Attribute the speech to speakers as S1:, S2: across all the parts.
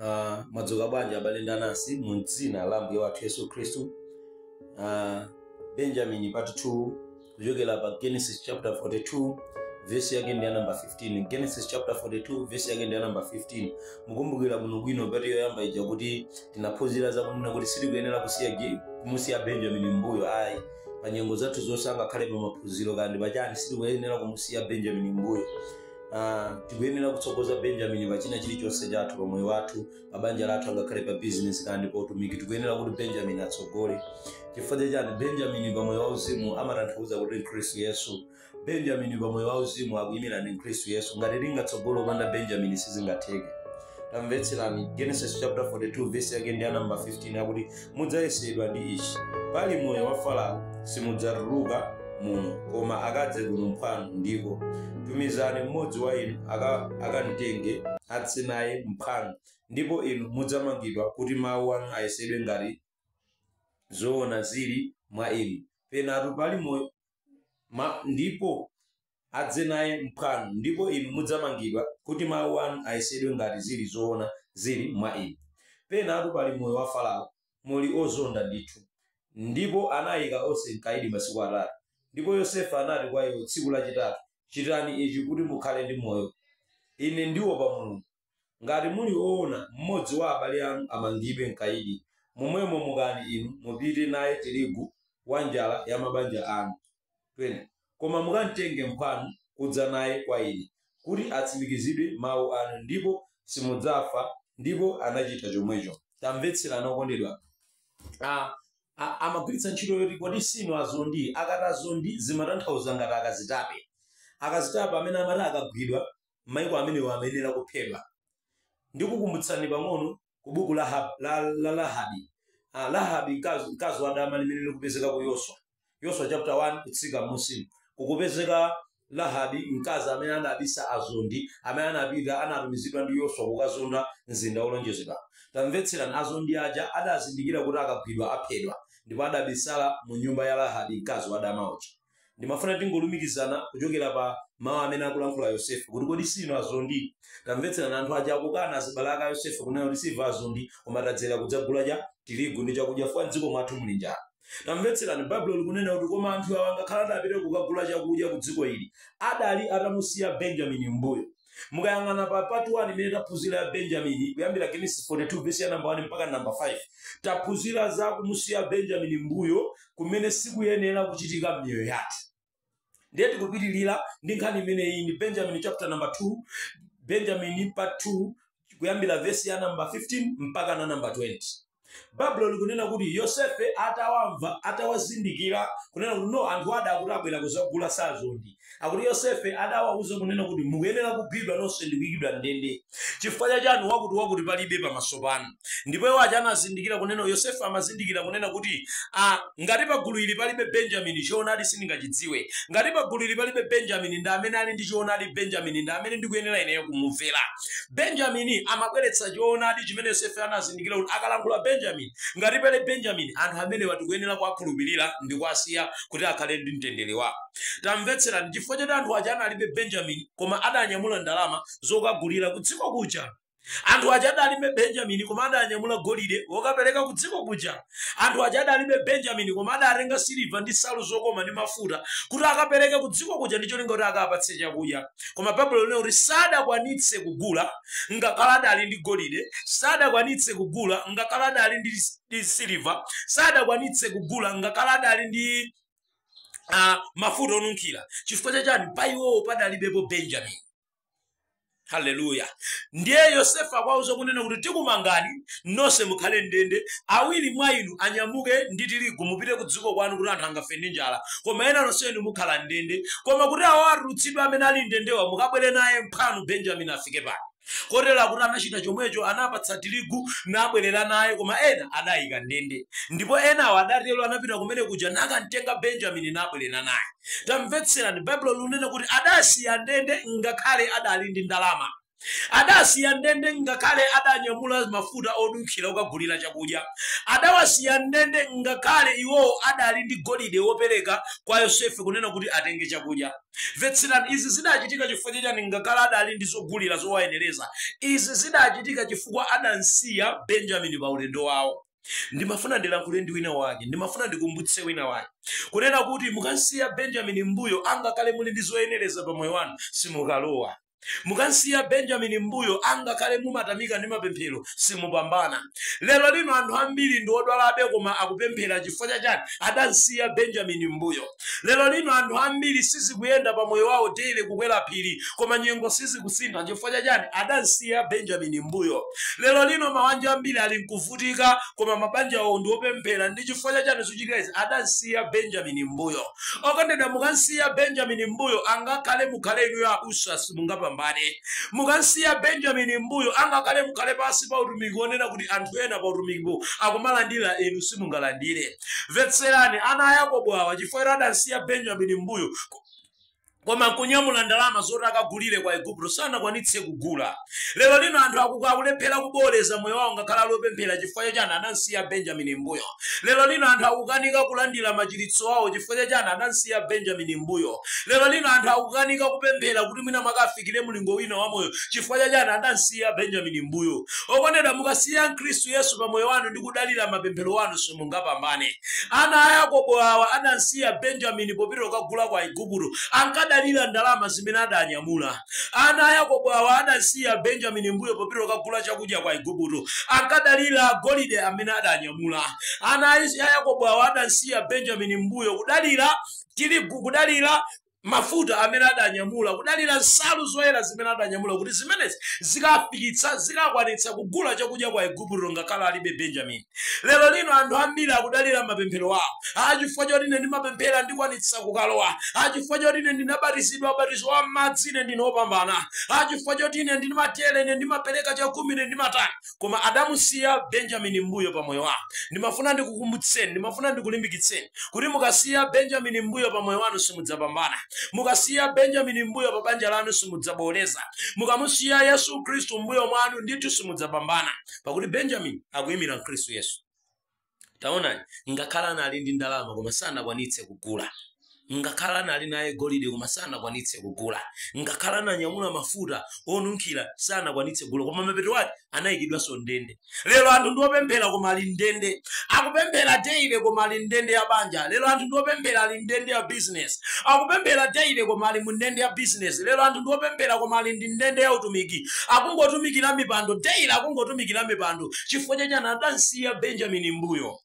S1: Ah, mwadzuka bwanji abale ndi anansi mu dzina la mbuye wathu yesu khristu Ah, benjamini part 2 kuchokera pa genesis chapter 42 vesi yake ndi ya namba 15 genesis chapter 42 vesi yake ndi ya namba 15 mukumbukira bwinobwino pati yoyamba ija kuti tinaphunzira zakunena kuti sitikuyenera kusiya ge- kumusiya benjamini mbuyo ayi pa nyengo zathu zonse angakhale pa maphunziro kandi pachani sitikuyenera kumusiya benjamini mbuyo Uh, tikuyenera kutsogoza benjamini pa china chilichonse chathu pa moyo wathu pa banja lathu angakhale pa bizinesi kandi pa utumiki tikuyenera kuti benjamini atsogole chifukwa chachani benjamini pa moyo wauzimu amatanthauza kuti mkhristu yesu benjamini pa moyo wauzimu akuyimira ndi khristu yesu ngati tingatsogole opanda benjamini sizingatheke tamvetserani genesis chapter 42 verse yake ndi ya namba 15 akuti mudzayesedwa ndi ichi pali moyo wa farao simudzatuluka muno koma akadze kuno mphwanu ndipo tumizani mmodzi wa inu aka- akamtenge adze naye mphwanu ndipo inu mudzamangidwa kuti mawu anu ayesedwe ngati zoona zili mwa inu penatu pali moyo ma, ndipo adze naye mphwanu, ndipo inu mudzamangidwa, kuti mawu anu ayesedwe ngati zili zoona zili mwa inu. Penatu pali moyo wa Farao, muli ozonda ndithu. Ndipo anaika onse m'kaidi masiku atatu. Ndipo Yosefe anati kwa iwo tsiku lachitatu, Chitani ichi kuti mukhale ndi moyo. Ine ndiopa Mulungu. Ngati muli oona, mmodzi wa abale anu amangidwe m'kaidi, momwemo mukani inu, mupite naye tirigu wa njala ya mabanja anu. 20 koma mukamtenge mphwanu kudza naye kwa ine, kuti atsimikizidwe mau anu, ndipo simudzafa. Ndipo anachita chomwecho. Tamvetserani okondedwa anga. A, a, amagwiritsa ntchito yoti kodi siinu azondi? Akati azondi zimatanthauza ngati akazitape. Akazitape amene amati akagwidwa m'maiko amenewo amayenera kuphedwa. Ndikukumbutsani pang'ono ku buku la, Hab, la, la Lahabi. Ah, Lahabi mkazi wa dama limene likupezeka ku Yoswa. Yoswa chapter 1 kutsika m'munsimu. Kukupezeka Lahabi mkazi amene anabisa azondi, amene anapita anatumizidwa ndi Yoswa kukazonda mzinda wolonjezedwa. Tamvetserani, azondi aja adazindikira kuti akagwidwa aphedwa, ndipo adabisala mu nyumba ya Lahabi mkazi wa dama uja. Ndimafuna tingolumikizana kuchokera pa mawu amene akulankhula Yosefe kuti kodi siinu azondi? Tamvetserani, anthu aja akukana azibale ake a Yosefe kunena kuti siife azondi koma tadzera kudzagula cha tirigu ndi chakudya chifukwa m'dziko mwathu muli njala. Tamvetserani, Baibulo likunena kuti koma anthu awa ngakhale adapita kukagula chakudya ku dziko ili, adali atamusiya Benjamini m'mbuyo. mukayang'ana pa part 1 imene taphunzira ya benjamini kuyambira genesis 42 vesi ya namba 1 mpaka namba 5 taphunzira za kumusiya benjamini mbuyo kumene sikuyenera kuchitika m'miyoyo yathu ndiye tikupitirira ndi nkhani imeneyi ndi benjamini chapter number 2 benjamini part 2 kuyambira vesi ya namba 15 mpaka na namba 20 baibulo likunena kuti yosefe atawamva atawazindikira kunena kuti no anthu ada akuti abwera kuzagula sazondi akuti yosefe adawauza kunena kuti mukuyenera kugwidwa nonse ndi kuyikidwa m'ndende chifukwa cha chani wakuti wakuti palibe pamaso pano ndipo iwo aja anazindikira kunena yosefe amazindikira kunena kuti ah, ngati pagulu ili palibe benjamini choonadi sindingachidziwe ngati pagulu ili palibe benjamini ndi amene ali ndi choonadi benjamini ndi amene ndikuyenera ineyo kumumvera Benjamini amabweretsa choonadi chimene Yosefe anazindikira kuti akalankhula Benjamini, ngati pali Benjamini, anthu amenewa tikuyenera kuwakhulupirira ndi kuwasiya kuti akhale ndi mtendere wawo. Tamvetserani, chifukwa choti anthu aja analibe Benjamini koma adanyamula ndalama zokagulira kudziko kuja. Anthu aja adalibe Benjamini koma adanyamula golide wokapereka kudziko kuja. anthu aja adalibe benjamini koma adatenga siliva ndi nsalu zokoma ndi mafuta kuti akapereke ku dziko kuja ndi cholinga kuti akapatsidwe chakudya koma baibulo linena kuti sadakwanitse kugula ngakhale adali ndi golide sadakwanitse kugula ngakhale adali ndi, ndi siliva sadakwanitse kugula ngakhale adali ndi uh, mafuta onunkhira chifukwa chachani pa iwowo padalibepo benjamini haleluya ndiye yosefe akwauza kunena kuti tikumangani nonse mukhale ndende awiri mwa inu anyamuke ndi tirigu mupite ku dziko kwanu kuti anthu angafe ndi njala koma ena nonse inu mukhala ndende koma kuti awo atulutsidwe amene ali ndendewa mukabwere naye mphwanu benjamini afike pano kotero akuti anachita chomwecho anapatsa tirigu nabwerera naye koma ena adayika ndende ndipo enawo adatero anapita kumene kuja nakamtenga benjamini nabwerera naye tamvetserani baibulo likunena kuti adasiya ndende ngakhale adali ndi ndalama adasiya ndende ngakhale adanyamula mafuta onunkhira okagulira chakudya adawasiya ndende ngakhale iwowo adali ndi golide wopereka kwa yosefe kunena kuti atenge chakudya mvetserani izi zidachitika chifukwa chachani ngakhale adali ndi zogulira zowayenereza izi zidachitika chifukwa adamsiya benjamini pa ulendo wawo ndimafuna ndilankhule ndi wina wake ndimafuna ndikumbutse wina wake kunena kuti mukansiya benjamini m'mbuyo angakhale muli ndi zoyenereza pa moyo wanu simukalowa mukansiya benjamini m'mbuyo angakhale mumatamika ndi mapemphero simupambana lero lino anthu ambiri ndi odwalabe koma akupemphera chifukwa chachani adansiya benjamini m'mbuyo Lero lino anthu ambiri sizikuyenda pa moyo wawo daily kukwera phiri koma nyengo sizikusintha chifukwa cha chani adamsiya Benjamin m'mbuyo. Lero lino mabanja ambiri ali nkuvutika koma mabanja awo ndi opemphera ndi chifukwa cha chani zochitika izi adamsiya Benjamin m'mbuyo. Okondedwa mukamsiya Benjamin m'mbuyo angakhale mukhale inuyo abusa simungapambane. Mukamsiya Benjamin m'mbuyo angakhale mukhale pansi pa utumiki wonena kuti anthu ena pa utumikipo akumalandira inu simungalandire. Mvetserani, ana a Yakobo awa, chifukwa adamsiya Benjamini m'mbuyo, koma nkunyamula ndalama zoti akagulire kwa Igupto, sanakwanitse kugula. Lero lino anthu akulephera kubowoleza moyo wawo ngakhale ali opemphera chifukwa chachani adamsiya Benjamini m'mbuyo. Lero lino anthu akukanika kulandira machiritso awo chifukwa chachani adamsiya Benjamini m'mbuyo. Lero lino anthu akukanika kupemphera kuti mwina mwake afikire mlingo wina wa moyo chifukwa chachani adamsiya Benjamini m'mbuyo. Okondedwa, mukasiya Khristu Yesu pa moyo wanu ndi kudalira mapemphero anu simungapambane. Ana a Yakobo awa adamsiya Benjamini popita kukagula kwa Igupto. Ankadalira ndalama zimene adanyamula. Ana a Yakobo awa adamsiya Benjamini m'mbuyo popita kukagula chakudya kwa Igupto. Ankadalira golide amene adanyamula. Ana a Yakobo awa adamsiya Benjamini m'mbuyo kudalira tirigu, kudalira mafuta amene adanyamula, kudalira nsalu zoyera zimene adanyamula, kuti zimenezi zikafikitsa, zikakwanitsa kugula chakudya kwa Igupto ngakhale alibe Benjamini. Lero lino anthu ambiri akudalira mapemphero awo. Ah, chifukwa choti ine ndimapemphera ndikwanitsa kukalowa. Ah, chifukwa choti ine ndinabatizidwa ubatizo wa m'madzi ine ndine wopambana. Ah, chifukwa choti ine ndimatere, ine ndimapereka chakhumi, ine ndimatani. koma adamusiya Benjamini mmbuyo pa moyo wawo. Ndimafuna ndikukumbutseni, ndimafuna ndikulimbikitseni, kuti mukasiya Benjamini mmbuyo pa moyo wanu simudzapambana. Mukasiya Benjamini mmbuyo pa banja lanu simudzabowoleza. Mukamusiya Yesu Khristu mmbuyo mwanu ndithu simudzapambana, pakuti Benjamini akuimira Khristu Yesu. taonani ngakhale anali ndi ndalama koma sanakwanitse kugula ngakhale anali naye golide koma sanakwanitse kugula ngakhale ananyamula mafuta onunkhira sanakwanitse kugula koma mapeto ake anayikidwanso ndende lero anthu ndi opemphera koma ali ndende akupemphera daily koma ali ndende ya banja lero anthu ndi opemphera ali ndende ya business akupemphera daily koma ali mu ndende ya business lero anthu ndi opemphera koma ali ndi ndende ya utumiki akungotumikira mipando daily akungotumikira mipando chifukwa chachani adamsiya benjamini mbuyo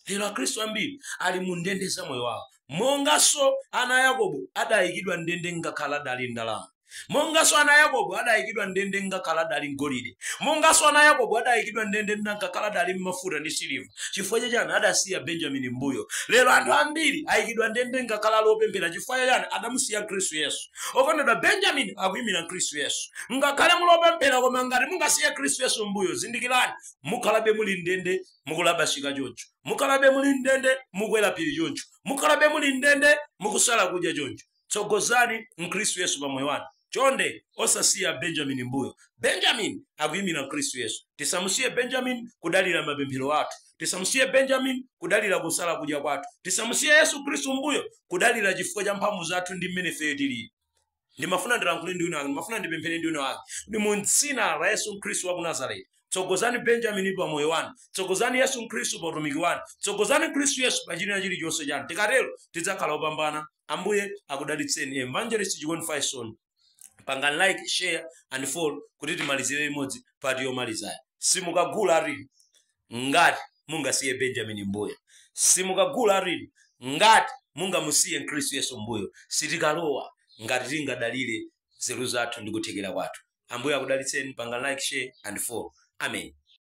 S1: lero akhristu ambiri ali mu ndende za moyo wawo monganso ana a yakobo adayikidwa ndende ngakhale adali ndalama monganso ana a yakobo adayikidwa ndende ngakhale adali n'golide monganso ana a yakobo adayikidwa ndende ngakhale adali n'mafuta ndi siliva chifukwa chachani adasiya benjamini mbuyo lero anthu ambiri ayikidwa ndende ngakhale ali opemphera chifukwa chachani adamusiya khristu yesu okondedwa benjamini akuyimira khristu yesu ngakhale muli opemphera koma ngati mungasiye khristu yesu mbuyo zindikirani mukhalabe muli m'ndende mukulabasika choncho mukhalabe muli m'ndende mukwera phiri choncho mukhalabe muli m'ndende mukusala kudya choncho tsogozani khristu yesu pa moyo wanu chonde osasiya benjamini mbuyo benjamini akuyimira khristu yesu tisamusiye benjamini kudalira mapemphero athu tisamusiye benjamini kudalira kusala kudya kwathu tisamusiye yesu khristu mbuyo kudalira chifukwa cha mphamvu zathu ndi mmene ifeyo tilili ndimafuna ndilankhule ndi wina wake ndimafuna ndipemphere ndi wina wake ndi mu dzina la yesu khristu wa ku nazareti tsogozani benjamini pa moyo wanu tsogozani yesu khristu pa utumiki wanu tsogozani khristu yesu pa chilina chilichonse chanu tikatero tidzakhala opambana ambuye akudalitseni evangelist chikondi faison pangani like share and follow kuti timalizire limodzi part yomalizayo simukagula tirigu ngati mungasiye benjamini mbuyo simukagula tirigu ngati mungamusiye khristu yesu mbuyo sitikalowa ngati tingadalire nzeru zathu ndi kuthekera kwathu ambuye akudalitseni pangani like share and follow amen